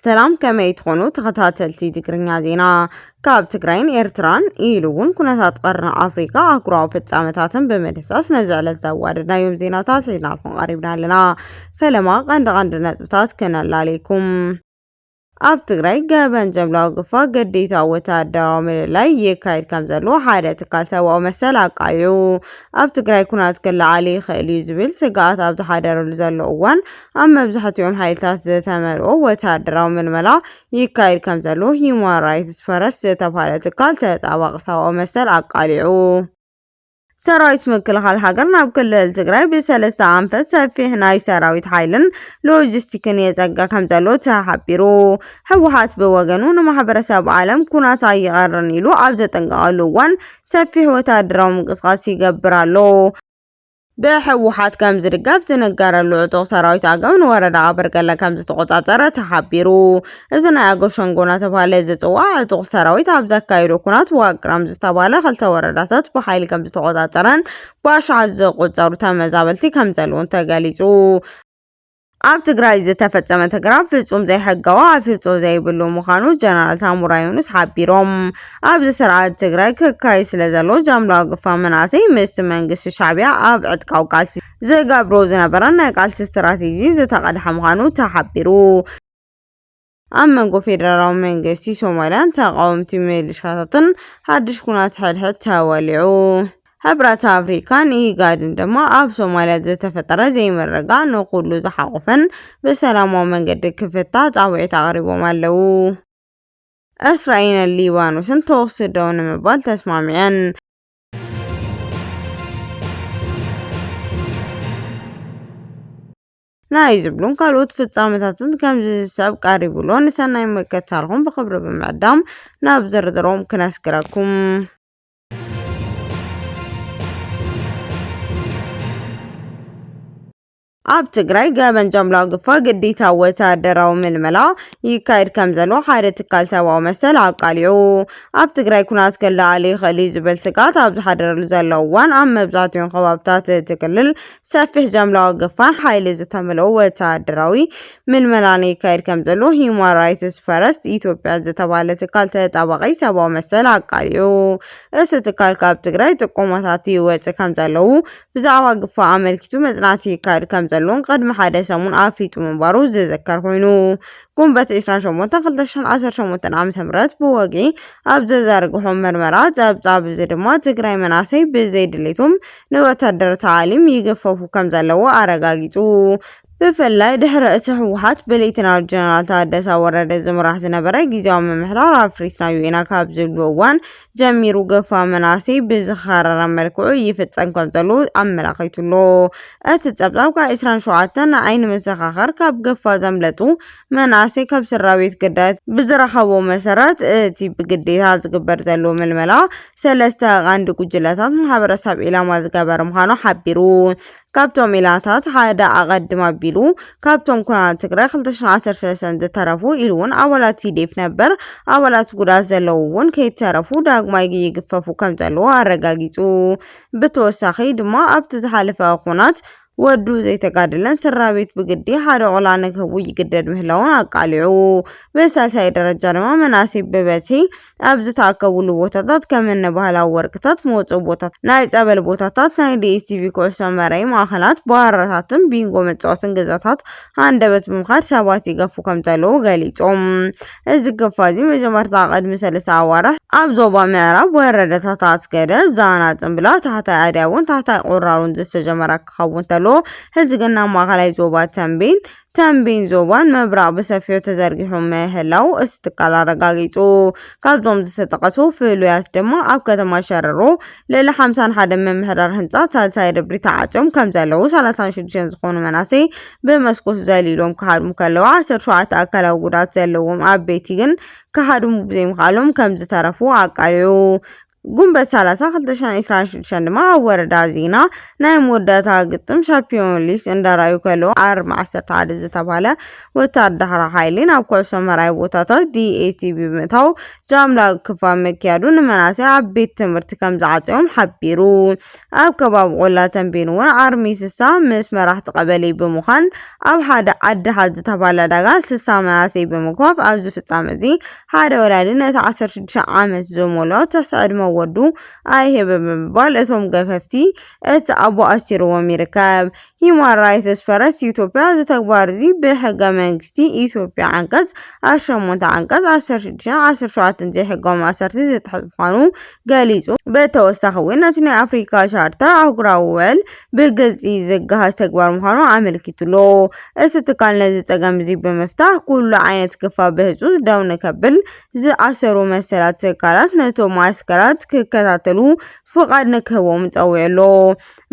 ሰላም ከመይ ትኾኑ ተኸታተልቲ ትግርኛ ዜና ካብ ትግራይን ኤርትራን ኢሉ እውን ኩነታት ቀርኒ ኣፍሪካ ኣህጉራዊ ፍጻመታትን ብምድህሳስ ነዚ ዕለት ዘዋደድናዮም ዜናታት ሒዝናልኩም ቀሪብና ኣለና ፈለማ ቀንዲ ቀንዲ ነጥብታት ክነላልየኩም ኣብ ትግራይ ገበን ጀምላዊ ግፋ ግዴታ ወተሃደራዊ ምልላይ ይካየድ ከም ዘሎ ሓደ ትካል ሰብኣዊ መሰል ኣቃሊዑ። ኣብ ትግራይ ኩናት ክለዓል ይኽእል እዩ ዝብል ስግኣት ኣብ ዝሓደረሉ ዘሎ እዋን ኣብ መብዛሕቲኦም ሓይልታት ዝተመልኦ ወተሃደራዊ ምልመላ ይካየድ ከም ዘሎ ሂዩማን ራይትስ ፈረስ ዝተብሃለ ትካል ተጣባቒ ሰብኣዊ መሰል ኣቃሊዑ። ሰራዊት ምክልኻል ሃገር ናብ ክልል ትግራይ ብሰለስተ ኣንፈት ሰፊሕ ናይ ሰራዊት ሓይልን ሎጂስቲክን የጸገ ከም ዘሎ ተሓቢሩ። ህወሓት ብወገኑ ንማሕበረሰብ ዓለም ኩናት ኣይቐርን ኢሉ ኣብ ዘጠንቀቐሉ እዋን ሰፊሕ ወተሃደራዊ ምንቅስቓስ ይገብር ኣሎ። ብህወሓት ከም ዝድገፍ ዝንገረሉ ዕጡቕ ሰራዊት ኣገው ንወረዳ ኣበርገለ ከም ዝተቖጻጸረ ተሓቢሩ። እዚ ናይ ኣገው ሸንጎ እናተብሃለ ዝፅዋዕ ዕጡቕ ሰራዊት ኣብ ዘካየዶ ኩናት ዋቅራም ዝተብሃለ ክልተ ወረዳታት ብሓይሊ ከምዝተቖፃፀረን ብኣሽሓት ዝቑፀሩ ተመዛበልቲ ከምዘለዉን ተገሊፁ። ኣብ ትግራይ ዝተፈፀመ ተግራ ፍፁም ዘይሕጋዊ ኣፍልጦ ዘይብሉ ምዃኑ ጀነራል ሳሙራ ዩኑስ ሓቢሮም። ኣብዚ ስርዓት ትግራይ ክካየድ ስለዘሎ ጃምላዊ ግፋ መናእሰይ ምስቲ መንግስቲ ሻዕቢያ ኣብ ዕጥቃዊ ቃልሲ ዝገብሮ ዝነበረ ናይ ቃልሲ ስትራቴጂ ዝተቐድሐ ምዃኑ ተሓቢሩ። ኣብ መንጎ ፌደራላዊ መንግስቲ ሶማልያን ተቓወምቲ ሚሊሻታትን ሓድሽ ኩናት ሕድሕድ ተወሊዑ። ሕብረት ኣፍሪካን ኢጋድን ድማ ኣብ ሶማልያ ዝተፈጠረ ዘይምርግጋእ ንኹሉ ዝሓቖፈን ብሰላማዊ መንገዲ ክፍታሕ ፃውዒት ኣቕሪቦም ኣለዉ። እስራኤልን ሊባኖስን ተኹሲ ደው ንምባል ተስማሚዐን። ናይ ዝብሉን ካልኦት ፍጻመታትን ከምዚ ዝስዕብ ቀሪቡ'ሎ። ንሰናይ ምክትታልኩም ብኽብሪ ብምዕዳም ናብ ዝርዝሮም ክነስግረኩም። ኣብ ትግራይ ገበን ጃምላ ግፋ ግዴታ ወተሃደራዊ ምልመላ ይካየድ ከም ዘሎ ሓደ ትካል ሰብኣዊ መሰል ኣቃሊዑ። ኣብ ትግራይ ኩናት ክለዓል ይኽእል እዩ ዝብል ስግኣት ኣብ ዝሓደረሉ ዘሎ እዋን ኣብ መብዛሕትኦም ከባብታት እቲ ክልል ሰፊሕ ጃምላዊ ግፋን ሓይሊ ዝተመልኦ ወተሃደራዊ ምልመላን ይካየድ ከም ዘሎ ሂዩማን ራይትስ ፈረስት ኢትዮጵያ ዝተባህለ ትካል ተጣባቒ ሰብኣዊ መሰል ኣቃሊዑ። እቲ ትካል ካብ ትግራይ ጥቆማታት ይወጽእ ከም ዘለዉ፣ ብዛዕባ ግፋ ኣመልኪቱ መጽናዕቲ ይካየድ ከም ዘሎን ቅድሚ ሓደ ሰሙን ኣፍሊጡ ምንባሩ ዝዝከር ኮይኑ፣ ጉንበት 28 2018 ዓ.ም ብወግዒ ኣብ ዘዘርግሖ መርመራ ጸብጻብ እዚ ድማ ትግራይ መናእሰይ ብዘይ ድሌቶም ንወታደር ታዕሊም ይገፈፉ ከምዘለዉ ኣረጋጊጹ። ብፍላይ ድሕሪ እቲ ህወሓት ብሌተናል ጀነራል ታደሰ ወረደ ዝምራሕ ዝነበረ ግዜያዊ ምምሕዳር ኣፍሪስናዮ ኢና ካብ ዝብሉ እዋን ጀሚሩ ገፋ መናእሰይ ብዝኸረረ መልክዑ ይፍጸም ከም ዘሎ ኣመላኺቱ'ሎ። እቲ ጸብጻብ ካብ 27 ንዓይ ንመዘኻኸር ካብ ገፋ ዘምለጡ መናእሰይ ካብ ስድራቤት ግዳያት ብዝረኸቦ መሰረት እቲ ብግዴታ ዝግበር ዘሎ ምልመላ ሰለስተ ቐንዲ ጉጅለታት ማሕበረሰብ ዒላማ ዝገበረ ምዃኑ ሓቢሩ። ካብቶም ኢላታት ሓደ ኣቐድም ኣቢሉ ካብቶም ኩናት ትግራይ 2013 ዝተረፉ ኢሉውን ኣባላት ቲዴፍ ነበር ኣባላት ጉዳት ዘለዉ እውን ከይተረፉ ዳግማይ ይግፈፉ ከምዘለዉ ኣረጋጊጹ። ብተወሳኺ ድማ ኣብቲ ዝሓለፈ ኩናት ወዱ ዘይተጋደለን ስድራቤት ብግዲ ሓደ ቆልዓ ንክህቡ ይግደድ ምህላዉን ኣቃሊዑ። ብሳልሳይ ደረጃ ድማ መናእሰይ ብበዝሒ ኣብ ዝተኣከብሉ ቦታታት ከምኒ ባህላዊ ወርቅታት መውጽኢ ቦታታት፣ ናይ ጸበል ቦታታት፣ ናይ ዲኤስቲቪ ኩዕሶ መረይ ማእከላት፣ ባራታትን ቢንጎ መጻወትን ገዛታት ሃንደበት ብምኻድ ሰባት ይገፉ ከምዘለዉ ገሊጾም። እዚ ግፋ'ዚ መጀመርታ ቅድሚ ሰለስተ ኣዋርሕ ኣብ ዞባ ምዕራብ ወረዳታት ኣስገደ፣ ዛና፣ ጽምብላ፣ ታሕታይ ኣድያቦን ታሕታይ ቁራሮን ዝተጀመረ ክኸውን ተሎ፣ ሕዚ ግን ናብ ማእከላይ ዞባ ተምቤን፣ ተምቤን ዞባን ምብራቕ ብሰፊሑ ተዘርጊሑ ምህላዉ እቲ ትካል ኣረጋጊጹ። ካብዞም ዝተጠቐሱ ፍሉያት ድማ ኣብ ከተማ ሸረሮ ልዕሊ ሓምሳን ሓደን ምምሕዳር ህንጻ ሳልሳይ ደብሪ ተዓጽዮም ከምዘለዉ ሰላሳን ሽዱሽተን ዝኾኑ መናእሰይ ብመስኮት ዘሊሎም ክሃድሙ ከለዉ ዓሰርተ ሸውዓተ ኣካላዊ ጉድኣት ዘለዎም ኣበይቲ ግን ክሃድሙ ብዘይምኽኣሎም ከምዝተረፉ ኣቃሊዑ። ጉንበት ሰላሳ ክልተ ሽሕን ዒስራን ሽዱሽተን ድማ ኣብ ወረዳ ዚና ናይ መወዳእታ ግጥም ሻምፒዮን ሊስ እንዳርኣዩ ከለዉ ኣርሚ ዓሰርተ ሓደ ዝተብሃለ ወታደራዊ ሓይሊ ናብ ኩዕሶ መርኣዪ ቦታታት DATV ብምእታው ጃምላ ግፋ ምክያዱ ንመናእሰይ ኣብ ቤት ትምህርቲ ከምዝዓፀዮም ሓቢሩ። ኣብ ከባቢ ቆላ ተምቤን እውን ኣርሚ ስሳ ምስ መራሕቲ ቀበሌ ብምዃን ኣብ ሓደ ዓዲ ሃ ዝተባህለ ዕዳጋ ስሳ መናእሰይ ብምግፋፍ ኣብዚ ፍፃመ እዚ ሓደ ወላዲ ነቲ ዓሰርተ ሽዱሽተ ዓመት ዝመልኦ ትሕቲ ዕድመ ወዱ ኣይህብ ብምባል እቶም ገፈፍቲ እቲ ኣቦ ኣሲርዎም ይርከብ። ሂዩማን ራይትስ ፈረስ ኢትዮጵያ እዚ ተግባር'ዚ ብሕገ መንግስቲ ኢትዮጵያ ዓንቀጽ ኣሸሞንተ፣ ዓንቀጽ ዓሰርተ ሽዱሽተን ዓሰርተ ሸውዓተን ዘይሕጋዊ ማእሰርቲ ዝጥሕስ ምዃኑ ገሊጹ። ብተወሳኺ'ውን ነቲ ናይ ኣፍሪካ ቻርተር ኣህጉራዊ ውዕል ብግልጺ ዝገሃስ ተግባር ምዃኑ ኣመልኪቱ'ሎ። እቲ ትካል ነዚ ጸገም'ዚ ብምፍታሕ ኩሉ ዓይነት ግፋ ብህጹጽ ደው ንከብል፣ ዝኣሰሩ መሰላት ትካላት ነቶም መዓስከራት ክከታተሉ ፍቓድ ንክህቦም ጸዊዑ'ሎ።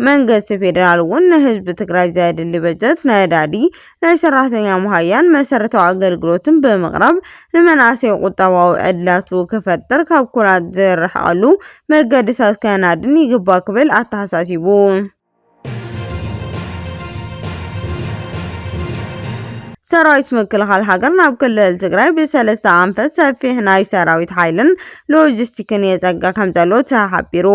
መንግስቲ ፌዴራል እውን ንህዝቢ ትግራይ ዘድሊ በጀት ነዳዲ፣ ናይ ሰራሕተኛ መሃያን መሰረታዊ ኣገልግሎትን ብምቕራብ ንመናእሰይ ቁጠባዊ ዕድላቱ ክፈጥር ካብ ኩናት ዝርሕቐሉ መገዲታት ከናድን ይግባእ ክብል ኣተሓሳሲቡ። ሰራዊት ምክልኻል ሃገር ናብ ክልል ትግራይ ብሰለስተ ኣንፈት ሰፊሕ ናይ ሰራዊት ሓይልን ሎጂስቲክን የፀግዕ ከምዘሎ ተሓቢሩ።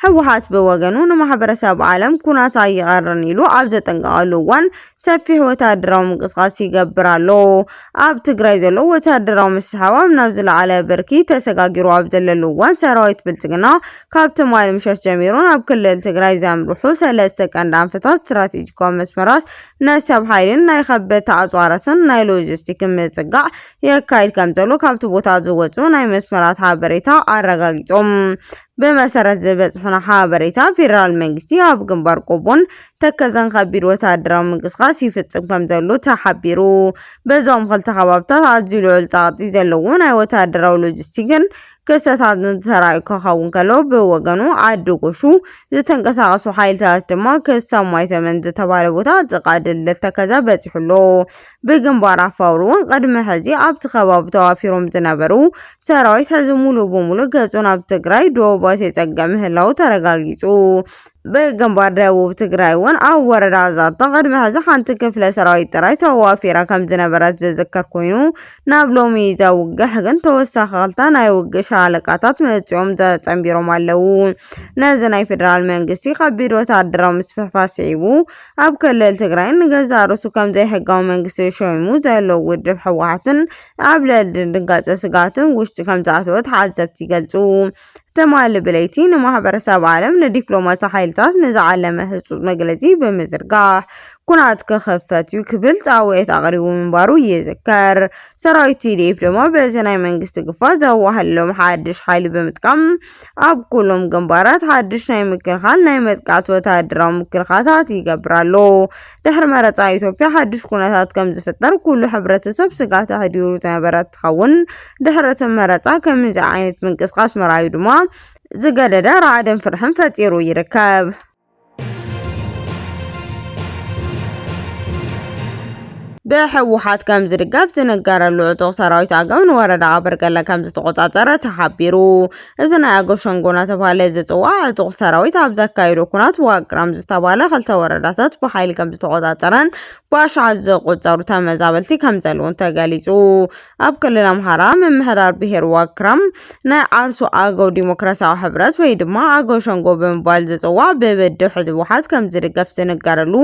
ህወሓት ብወገኑ ንማሕበረሰብ ዓለም ኩናት ኣይቐርን ኢሉ ኣብ ዘጠንቀቐሉ እዋን ሰፊሕ ወተሃደራዊ ምንቅስቓስ ይገብር ኣሎ። ኣብ ትግራይ ዘሎ ወተሃደራዊ ምስሕሓብ ናብ ዝለዓለ ብርኪ ተሰጋጊሩ ኣብ ዘለሉ እዋን ሰራዊት ብልፅግና ካብ ትማሊ ምሸት ጀሚሩ ናብ ክልል ትግራይ ዘምርሑ ሰለስተ ቀንዲ ኣንፈታት ስትራቴጂካዊ መስመራት ናይ ሰብ ሓይልን ናይ ከበድቲ ኣፅዋራትን ናይ ሎጂስቲክን ምፅጋዕ የካይድ ከምዘሎ ካብቲ ቦታ ዝወፅኡ ናይ መስመራት ሓበሬታ ኣረጋጊፆም። ብመሰረት ዝበፅሑና ሓበሬታ ፌዴራል መንግስቲ ኣብ ግንባር ቆቦን ተከዘን ከቢድ ወታደራዊ ምንቅስቓስ ይፍፅም ከምዘሎ ተሓቢሩ። በዞም ክልተ ከባብታት ኣዝዩ ልዑል ፀቕጢ ዘለዎ ናይ ወታደራዊ ሎጂስቲክን ክስተታትን ተራእዩ ከኸውን ከሎ ብወገኑ ዓዲ ጎሹ ዝተንቀሳቐሱ ሓይልታት ድማ ክሳብ ማይተመን ዝተባህለ ቦታ ጥቓ ድልድል ተከዘ በፂሑ ኣሎ። ብግንባር ኣፋውር እውን ቕድሚ ሕዚ ኣብቲ ከባቢ ተዋፊሮም ዝነበሩ ሰራዊት ሕዚ ሙሉእ ብሙሉእ ገፁ ናብ ትግራይ ዶባት የፀግዕ ምህላዉ ተረጋጊፁ። ብግንባር ደቡብ ትግራይ እውን ኣብ ወረዳ ዛታ ቕድሚ ሕዚ ሓንቲ ክፍለ ሰራዊት ጥራይ ተዋፊራ ከምዝነበረት ዝዝከር ኮይኑ ናብ ሎሚ ይዘ ውግሕ ግን ተወሳኺ ክልተ ናይ ውግእ ሻለቃታት መፂኦም ተፀንቢሮም ኣለዉ። ነዚ ናይ ፌደራል መንግስቲ ኸቢድ ወታደራዊ ምስፍሕፋሕ ስዒቡ ኣብ ክልል ትግራይ ንገዛእ ርእሱ ከም ዘይሕጋዊ መንግስቲ ሾይሙ ዘሎ ውድብ ህወሓትን ኣብ ልዕሊ ድንጋጸ ስግኣትን ውሽጢ ከም ዝኣተወ ተዓዘብቲ ይገልጹ። ትማሊ ብለይቲ ንማሕበረሰብ ዓለም ንዲፕሎማሲ ሓይልታት ንዝዓለመ ህጹጽ መግለጺ ብምዝርጋሕ ኩናት ክኽፈት እዩ ክብል ጻውዒት ኣቕሪቡ ምንባሩ ይዝከር። ሰራዊት ቲዲኤፍ ድማ በዚ ናይ መንግስቲ ግፋ ዘዋህለሎም ሓድሽ ሓይሊ ብምጥቃም ኣብ ኩሎም ግንባራት ሓድሽ ናይ ምክልኻል ናይ መጥቃዕቲ ወተሃደራዊ ምክልኻታት ይገብር ኣሎ። ድሕሪ መረጻ ኢትዮጵያ ሓድሽ ኩነታት ከም ዝፍጠር ኩሉ ሕብረተሰብ ስጋት ኣሕዲሩ ዝነበረ እንትኸውን ድሕሪ እቲ መረጻ ከምዚ ዓይነት ምንቅስቓስ ምርኣዩ ድማ ዝገደደ ራዕድን ፍርሕን ፈጢሩ ይርከብ። ብሕወሓት ከም ዝድገፍ ዝንገረሉ ዕጡቕ ሰራዊት ኣገው ንወረዳ ኣበርገለ ከም ዝተቖፃፀረ ተሓቢሩ። እዚ ናይ ኣገው ሸንጎ እናተባህለ ዝፅዋዕ ዕጡቕ ሰራዊት ኣብ ዘካየዶ ኩናት ዋቅራም ዝተባህለ ክልተ ወረዳታት ብሓይሊ ከም ዝተቖፃፀረን ብኣሽሓት ዝቑፀሩ ተመዛበልቲ ከም ዘለውን ተገሊፁ። ኣብ ክልል ኣምሓራ ምምሕዳር ብሄር ዋግ ክራም ናይ ዓርሱ ኣገው ዲሞክራሲያዊ ሕብረት ወይ ድማ ኣገው ሸንጎ ብምባል ዝፅዋዕ ብብድሕ ህወሓት ከም ዝድገፍ ዝንገረሉ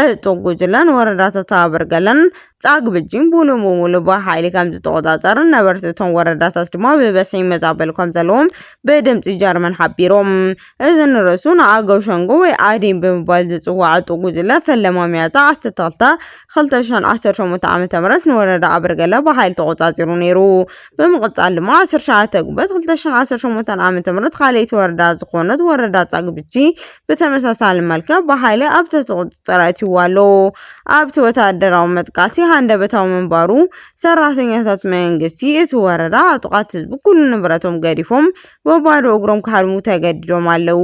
ዕጡቕ ጉጅለን ወረዳታት ኣበርገለን ጻግብጂን ሙሉ ብሙሉ ብሓይሊ ከም ዝተቖጻጸርን ነበርቲ እቶም ወረዳታት ድማ ብበዝሒ ይመዛበሉ ከም ዘለዎም ብድምጺ ጀርመን ሓቢሮም። እዚ ንርእሱ ንኣገው ሸንጎ ወይ ኣዴን ብምባል ዝጽዋዕ ዕጡቕ ጉጅለ ፈለማ ሚያዝያ 12 ክልተ ሽሕን ዓሰርተ ሸሞንተን ዓመተ ምህረት ንወረዳ ኣብርገለ ብሓይሊ ተቖጻጺሩ ነይሩ። ብምቕጻል ድማ ዓሰርተ ሸውዓተ ጉንበት ክልተ ሽሕን ዓሰርተ ሸሞንተን ዓመተ ምህረት ካልኣይቲ ወረዳ ዝኾነት ወረዳ ጻግብጂ ብተመሳሳሊ መልክዕ ብሓይሊ ኣብ ትሕቲ ቁጽጽር ኣእትይዋ ኣሎ። ኣብቲ ወተሃደራዊ መጥቃዕቲ ሃንደበታዊ ምንባሩ ሰራሕተኛታት መንግስቲ እቲ ወረዳ ዕጡቓት ህዝቢ ኩሉ ንብረቶም ገዲፎም ብባዶ እግሮም ክሃድሙ ተገዲዶም ኣለዉ።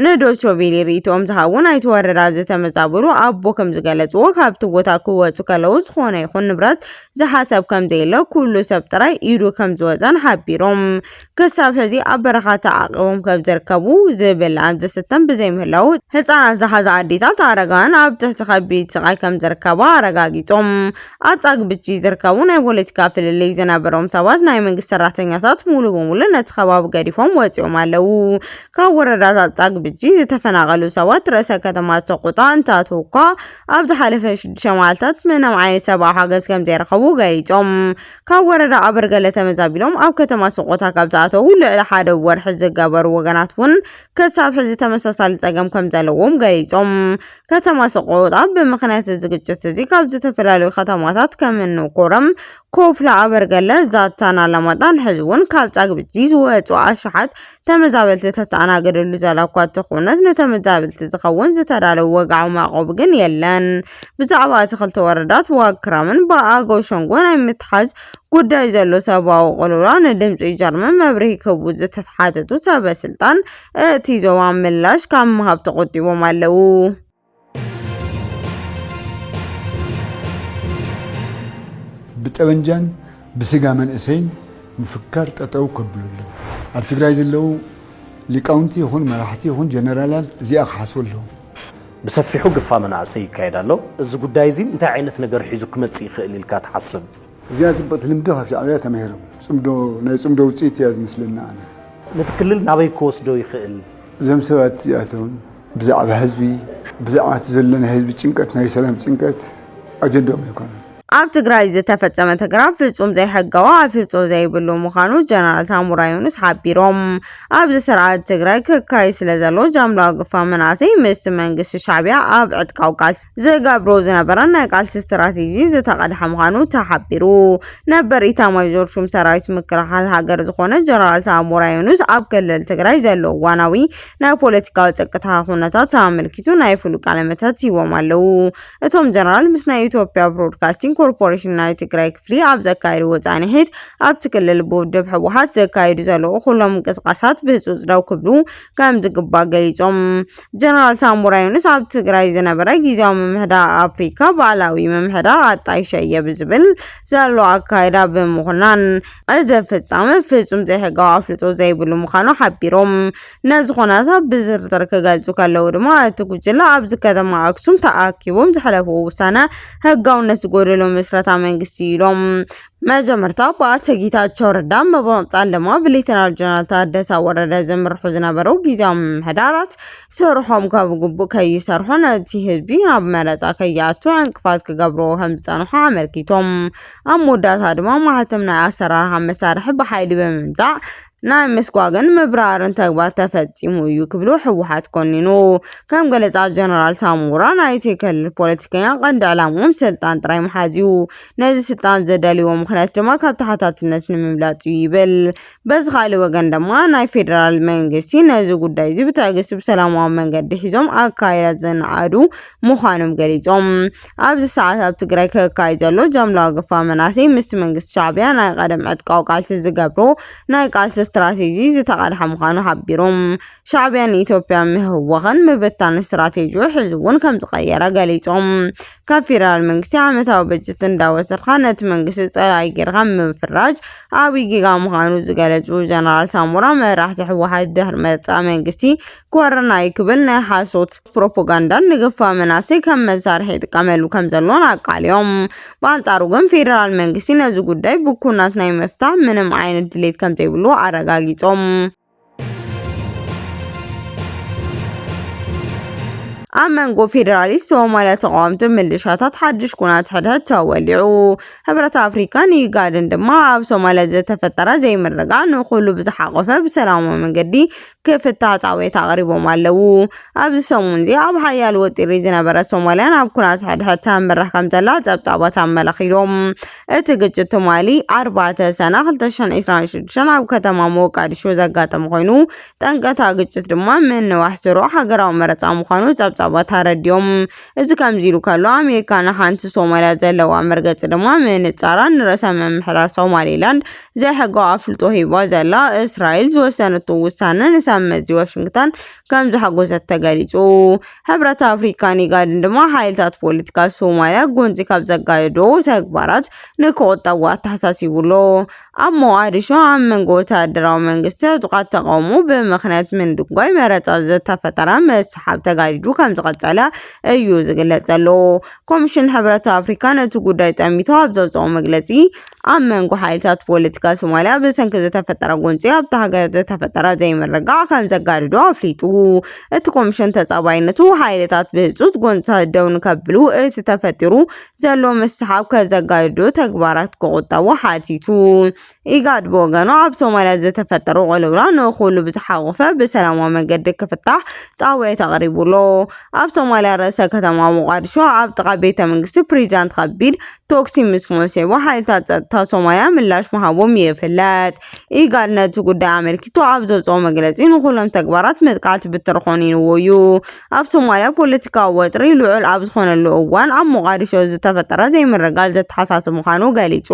ንዶይቸ ቬለ ርእይቶኦም ዝሃቡ ናይቲ ወረዳ ዝተመዛበሉ ኣቦ ከም ዝገለጽዎ ካብቲ ቦታ ክወጹ ከለዉ ዝኾነ ይኹን ንብረት ዝሓሰብ ከም ዘየለ ኩሉ ሰብ ጥራይ ኢዱ ከም ዝወጸን ሓቢሮም ክሳብ ሕዚ ኣብ በረኻ ተዓቂቦም ከም ዝርከቡ ዝብላዕን ዝስተን ብዘይምህላዉ ህጻናት ዝሓዛ ኣዴታት ኣረጋውያን ኣብ ትሕቲ ከቢድ ስቓይ ከም ዝርከባ ኣረጋጊጾም። ኣብ ጻግብጂ ዝርከቡ ናይ ፖለቲካ ፍልልይ ዝነበሮም ሰባት ናይ መንግስቲ ሰራሕተኛታት ሙሉ ብሙሉ ነቲ ከባቢ ገዲፎም ወጺኦም ኣለዉ። ካብ ወረዳታት ጻግብጂ ዝተፈናቐሉ ሰባት ርእሰ ከተማ ሰቆጣ እንተኣተዉኳ ኣብ ዝሓለፈ ሽዱሽተ መዓልታት ምንም ዓይነት ሰብኣዊ ሓገዝ ከምዘይረኸቡ ገሊጾም። ካብ ወረዳ ኣበርገለ ተመዛቢሎም ኣብ ከተማ ሰቆጣ ካብ ዝኣተዉ ልዕሊ ሓደ ወርሒ ዝገበሩ ወገናት እውን ክሳብ ሕዚ ተመሳሳሊ ጸገም ከምዘለዎም ገሊጾም። ከተማ ሰቆጣ ብምኽንያት እዚ ግጭት እዚ ካብ ዝተፈላለዩ ከተማታት ከምኒ ኮረም፣ ኮፍላ፣ ኣበርገለ፣ ዛታን ኣላማጣን ሕዚ እውን ካብ ጻግብጂ ዝወጹ ኣሽሓት ተመዛበልቲ ተተኣናገደሉ ዘላ እኳ እንተኾነት ንተመዛበልቲ ዝኸውን ዝተዳለወ ወግዓዊ መዕቆቢ ግን የለን። ብዛዕባ እቲ ክልተ ወረዳት ዋግ ክራምን ብኣገው ሸንጎ ናይ ምትሓዝ ጉዳይ ዘሎ ሰብኣዊ ቅልውላ ንድምፂ ጀርመን መብርሂ ክህቡ ዝተሓተቱ ሰበ ስልጣን እቲ ዞባ ምላሽ ካብ ምሃብ ተቖጢቦም ኣለዉ። ብጠበንጃን ብስጋ መንእሰይን ምፍካር ጠጠው ከብሉ ኣለዎም። ኣብ ትግራይ ዘለዉ ሊቃውንቲ ይኹን መራሕቲ ይኹን ጀነራላት እዚኣ ክሓስቡ ኣለዎም። ብሰፊሑ ግፋ መናእሰይ ይካየድ ኣሎ። እዚ ጉዳይ እዚ እንታይ ዓይነት ነገር ሒዙ ክመፅእ ይኽእል ኢልካ ትሓስብ? እዚኣ ጽብቕቲ ልምዲ ካብ ሻዕብያ ተማሂሮም ጽምዶ ናይ ጽምዶ ውጽኢት እያ ዝመስለኒ ኣነ። ነቲ ክልል ናበይ ክወስዶ ይኽእል? እዞም ሰባት እዚኣቶም ብዛዕባ ህዝቢ ብዛዕባ እቲ ዘሎ ናይ ህዝቢ ጭንቀት ናይ ሰላም ጭንቀት ኣጀንድኦም ኣይኮነን። ኣብ ትግራይ ዝተፈፀመ ተግራ ፍፁም ዘይሕጋዊ ኣፍልጦ ዘይብሉ ምዃኑ ጀነራል ሳሙራ ዮኑስ ሓቢሮም። ኣብዚ ስርዓት ትግራይ ክካየድ ስለዘሎ ጃምላ ግፋ መናእሰይ ምስቲ መንግስቲ ሻዕቢያ ኣብ ዕጥቃዊ ቃልሲ ዝገብሮ ዝነበረን ናይ ቃልሲ ስትራቴጂ ዝተቐድሐ ምዃኑ ተሓቢሩ። ነበር ኢታማዦር ሹም ሰራዊት ምክልኻል ሃገር ዝኾነ ጀነራል ሳሞራ ዮኑስ ኣብ ክልል ትግራይ ዘሎ እዋናዊ ናይ ፖለቲካዊ ጸጥታ ኩነታት ኣመልኪቱ ናይ ፍሉ ቃለመሕተት ሂቦም ኣለዉ። እቶም ጀነራል ምስ ናይ ኢትዮጵያ ብሮድካስቲንግ ኮርፖሬሽን ናይ ትግራይ ክፍሊ ኣብ ዘካየድዎ ጻንሒት ኣብቲ ክልል ብውድብ ህወሓት ዘካይዱ ዘለዉ ኩሎም ምንቅስቓሳት ብህጹጽ ደው ክብሉ ከምዝግባእ ገሊጾም። ጀነራል ሳሞራ ዩኑስ ኣብ ትግራይ ዝነበረ ጊዜያዊ ምምሕዳር ኣፍሪካ ባዕላዊ ምምሕዳር ኣጣይሸየ ብዝብል ዘሎ ኣካይዳ ብምኹናን እዚ ፍጻመ ፍጹም ዘይሕጋዊ ኣፍልጦ ዘይብሉ ምዃኑ ሓቢሮም። ነዚ ኩነታት ብዝርዝር ክገልጹ ከለዉ ድማ እቲ ጉጅለ ኣብዚ ከተማ ኣክሱም ተኣኪቦም ዘሕለፍዎ ውሳነ ሕጋውነት ዝጎደሎ ምስረታ መንግስቲ ኢዩ ኢሎም። መጀመርታ ብኣቶ ጌታቸው ረዳ ምብቕጻል ድማ ብሌተናል ጀነራል ታደሰ ወረደ ዝምርሑ ዝነበሩ ግዜያዊ ምምሕዳራት ስርሖም ካብ ግቡእ ከይሰርሑ ነቲ ህዝቢ ናብ መረፃ ከይኣቱ ዕንቅፋት ክገብርዎ ከም ዝጸንሑ ኣመልኪቶም ኣብ መወዳእታ ድማ ማህተም ናይ ኣሰራርሓ መሳርሒ ብሓይሊ ብምምንዛዕ ናይ ምስጓግን ምብራርን ተግባር ተፈፂሙ እዩ ክብሉ ህወሓት ኮኒኑ። ከም ገለፃ ጀነራል ሳሞራ ናይቲ ክልል ፖለቲከኛ ቀንዲ ዕላምኦም ስልጣን ጥራይ ምሓዝ እዩ፣ ነዚ ስልጣን ዘዳልይዎ ምኽንያት ድማ ካብ ተሓታትነት ንምምላጥ እዩ ይብል። በዚ ካልእ ወገን ድማ ናይ ፌደራል መንግስቲ ነዚ ጉዳይ እዚ ብትዕግስቲ ብሰላማዊ መንገዲ ሒዞም ኣካይዳ ዝነኣዱ ምዃኖም ገሊፆም። ኣብዚ ሰዓት ኣብ ትግራይ ክካየድ ዘሎ ጃምላዊ ግፋ መናእሰይ ምስቲ መንግስቲ ሻዕቢያ ናይ ቐደም ዕጥቃዊ ቃልሲ ዝገብሮ ናይ ቃልሲ ስትራቴጂ ዝተቓልሐ ምዃኑ ሓቢሩ። ሻዕቢያ ንኢትዮጵያ ምህዋኽን ምብታን ስትራቴጂኡ ሕዚ እውን ከምዝቐየረ ገሊጹ። ካብ ፌደራል መንግስቲ ዓመታዊ በጀት እንዳወሰድካ ነቲ መንግስቲ ጸላኢ ጌርካ ምፍራጅ ዓብዪ ጌጋ ምዃኑ ዝገለጹ ጀነራል ሳሞራ መራሕቲ ህወሓት ድሕሪ ምርጫ መንግስቲ ኮረና እዩ ክብል ናይ ሓሶት ፕሮፓጋንዳን ንግፋ መናሰይ ከም መሳርሒ ይጥቀመሉ ከም ዘሎን ኣቃልዮም። ብኣንጻሩ ግን ፌደራል መንግስቲ ነዚ ጉዳይ ብኩናት ናይ ምፍታህ ምንም ዓይነት ድሌት ከም ዘይብሉ ኣረጋጊጾም። ኣብ መንጎ ፌዴራሊስት ሶማልያ ተቃወምቲ ምልሻታት ሓድሽ ኩናት ሕድሕድ ተወሊዑ ሕብረት ኣፍሪካን ኢጋድን ድማ ኣብ ሶማልያ ዝተፈጠረ ዘይምርጋ ንኩሉ ብዝሓቆፈ ብሰላማዊ መንገዲ ክፍታት ኣውያት ኣቕሪቦም ኣለዉ። ኣብዚ ሰሙን'ዚ ኣብ ሓያል ወጢሪ ዝነበረት ሶማልያ ናብ ኩናት ሕድሕድ ተምርሕ ከም ዘላ ጸብጻባት ኣመላኺቶም። እቲ ግጭት ትማሊ ኣርባዕተ ሰነ 2026 ኣብ ከተማ ሞቃዲሾ ዘጋጠመ ኮይኑ ጠንቀታ ግጭት ድማ ምንዋሕ ስሩዕ ሃገራዊ መረጻ ምዃኑ ጸብጻባት ኣረዲኦም። እዚ ከምዚ ኢሉ ከሎ ኣሜሪካ ንሓንቲ ሶማልያ ዘለዋ መርገጺ ድማ ምንጻራን ንርእሰ ምምሕዳር ሶማሊላንድ ዘይሕጋዊ ኣፍልጦ ሂባ ዘላ እስራኤል ዝወሰነቶ ውሳነ ንሰብ መዚ ዋሽንግተን ከም ዘሓጎሰት ተገሊጹ። ሕብረት ኣፍሪካን ኢጋድን ድማ ሓይልታት ፖለቲካ ሶማልያ ጎንጺ ካብ ዘጋየዶ ተግባራት ንክቑጠቡ ኣተሓሳሲቡ ኣሎ። ኣብ ሞቓዲሾ ኣብ መንጎ ወተሃደራዊ መንግስቲ ዕጡቓት ተቓውሞ ብምኽንያት ምንድጓይ መረጻ ዝተፈጠረ ምስሕሓብ ተጋዲዱ ከም ዝቐጸለ እዩ ዝግለጽ ዘሎ። ኮሚሽን ሕብረት ኣፍሪካ ነቲ ጉዳይ ጠሚቱ ኣብ ዘውፀኦ መግለፂ፣ ኣብ መንጎ ሓይልታት ፖለቲካ ሶማልያ ብሰንኪ ዝተፈጠረ ጎንፂ ኣብታ ሃገር ዝተፈጠረ ዘይምርግጋዕ ከምዘጋድዶ ኣፍሊጡ። እቲ ኮሚሽን ተፃባይነቱ ሓይልታት ብህፁፅ ጎንፅታት ደው ንከብሉ እቲ ተፈጢሩ ዘሎ ምስሕሓብ ከዘጋድዶ ተግባራት ክቑጠቡ ሓቲቱ። ኢጋድ ብወገኑ ኣብ ሶማልያ ዝተፈጠረ ቅልውላው ንኹሉ ብዝሓቖፈ ብሰላማዊ መገዲ ክፍታሕ ፃውዒት ኣቕሪቡ ኣሎ። ኣብ ሶማልያ ርእሰ ከተማ ሞቓድሾ ኣብ ጥቓ ቤተ መንግስቲ ፕሬዚዳንት ከቢድ ቶክሲ ምስ ሞሴቦ ሓይልታት ጸጥታ ሶማልያ ምላሽ ምሃቦም ይፍለጥ። ኢጋድ ነቲ ጉዳይ ኣመልኪቱ ኣብ ዘውጽኦ መግለጺ ንኹሎም ተግባራት መጥቃዕቲ ብትሪ ኮኒንዎ እዩ። ኣብ ሶማልያ ፖለቲካዊ ወጥሪ ልዑል ኣብ ዝኾነሉ እዋን ኣብ ሞቓድሾ ዝተፈጠረ ዘይምርግጋእ ዘተሓሳስብ ምዃኑ ገሊጹ።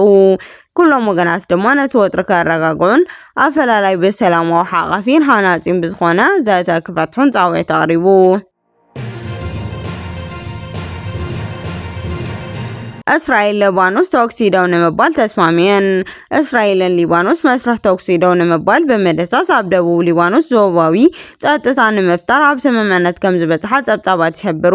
ኩሎም ወገናት ድማ ነቲ ወጥሪ ከረጋግዑን ኣፈላላይ ብሰላማዊ ሓቛፊን ሃናጺን ብዝኾነ ዘተ ክፈትሑን ጻውዒት ኣቕሪቡ። እስራኤል ሊባኖስ ተኩሲ ደው ንምባል ተስማሚዐን። እስራኤልን ሊባኖስ መስርሕ ተኩሲ ደው ንምባል ብምድህሳስ ኣብ ደቡብ ሊባኖስ ዞባዊ ጸጥታ ንምፍጣር ኣብ ስምምዕነት ከም ዝበጽሓ ጸብጻባት ይሕብሩ።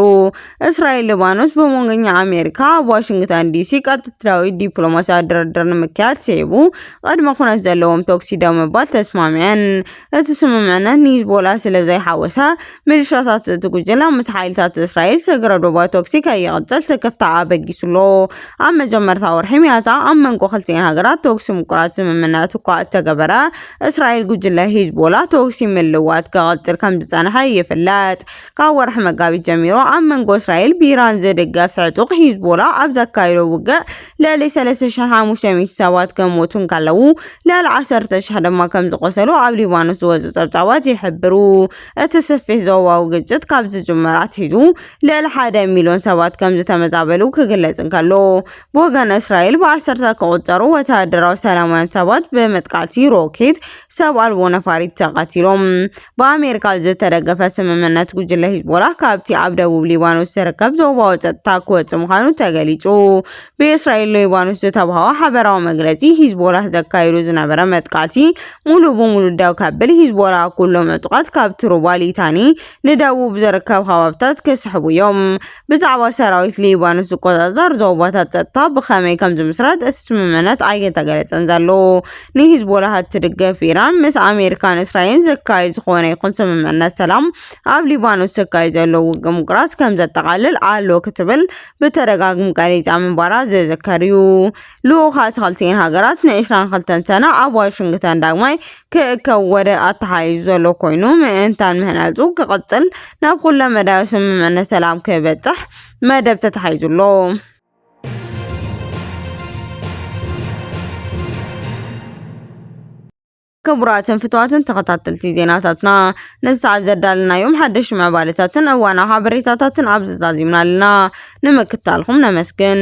እስራኤል ሊባኖስ ብመንጎኛ ኣሜሪካ ኣብ ዋሽንግተን ዲሲ ቀጥታዊ ዲፕሎማስያዊ ድርድር ንምክያድ ስዒቡ ቅድመ ኩነት ዘለዎም ተኩሲ ደው ምባል ተስማሚዐን። እቲ ስምምዕነት ንሂዝቦላ ስለ ዘይሓወሰ፣ ሚሊሻታት እቲ ጉጅለ ምስ ሓይልታት እስራኤል ስግረ ዶባዊ ተኩሲ ከይቕጽል ስክፍታ ኣበጊሱ'ሎ። ኣብ መጀመርታ ወርሒ ሚያዝያ ኣብ መንጎ ክልቲኤን ሃገራት ተኩሲ ምቁራጽ ስምምነት እኳ እተገበረ፣ እስራኤል ጉጅለ ሂዝቦላ ተኩሲ ምልዋጥ ክቕጽል ከም ዝጸንሐ ይፍለጥ። ካብ ወርሒ መጋቢት ጀሚሩ ኣብ መንጎ እስራኤል ብኢራን ዝድገፍ ዕጡቕ ሂዝቦላ ኣብ ዘካይዶ ውግእ ልዕሊ 3,500 ሰባት ከሞቱ እንከለዉ ልዕሊ 10,000 ድማ ከም ዝቖሰሉ ኣብ ሊባኖስ ዝወጹ ጸብጻባት ይሕብሩ። እቲ ስፊሕ ዞባዊ ግጭት ካብ ዝጅመር ኣትሒዙ ልዕሊ ሓደ ሚልዮን ሰባት ከም ዝተመዛበሉ ክግለጽ እንከሎ ብወገን እስራኤል ብዓሰርታት ክቑጸሩ ወተሃደራዊ ሰላማውያን ሰባት ብመጥቃዕቲ ሮኬት ሰብ ኣልቦ ነፋሪት ተቐቲሎም። ብኣመሪካ ዝተደገፈ ስምምዕነት ጉጅለ ሂዝቦላህ ካብቲ ኣብ ደቡብ ሊባኖስ ዝርከብ ዞባዊ ጸጥታ ክወጽእ ምዃኑ ተገሊጹ። ብእስራኤል ሊባኖስ ዝተባህወ ሓበራዊ መግለጺ፣ ሂዝቦላህ ዘካይዱ ዝነበረ መጥቃዕቲ ሙሉእ ብሙሉእ ደው ከብል፣ ሂዝቦላህ ኩሎም ዕጡቓት ካብቲ ሩባ ሊታኒ ንደቡብ ዝርከብ ከባብታት ክስሕቡ እዮም ብዛዕባ ሰራዊት ሊባኖስ ዝቆጻጸር ዞባታት ጸጥታ ብኸመይ ከም ዝምስረት እቲ ስምምዕነት ኣይተገለጸን ዘሎ። ንሂዝቦላህ እትድግፍ ኢራን ምስ ኣሜሪካን እስራኤልን ዝካየድ ዝኾነ ይኹን ስምምዕነት ሰላም ኣብ ሊባኖስ ዝካየድ ዘሎ ውግእ ምቁራጽ ከም ዘጠቓልል ኣሎ ክትብል ብተደጋግሚ ገሊጻ ምንባራ ዝዝከር እዩ። ልኡኻት ክልቲኤን ሃገራት ን22 ሰነ ኣብ ዋሽንግተን ዳግማይ ክእከብ ወረ ኣተሓሒዙ ዘሎ ኮይኑ፣ ምእንታን ምህናጹ ክቕጽል ናብ ኩለመዳያዊ ስምምዕነት ሰላም ክበጽሕ መደብ ተታሒዙ ኣሎ። ክቡራትን ፍትዋትን ተኸታተልቲ ዜናታትና ነዚ ሰዓት ዘዳለናዮም ሓደሽ ምዕባለታትን እዋናዊ ሓበሬታታትን ኣብዚ ዛዚምና ኣለና። ንምክታልኹም ነመስግን።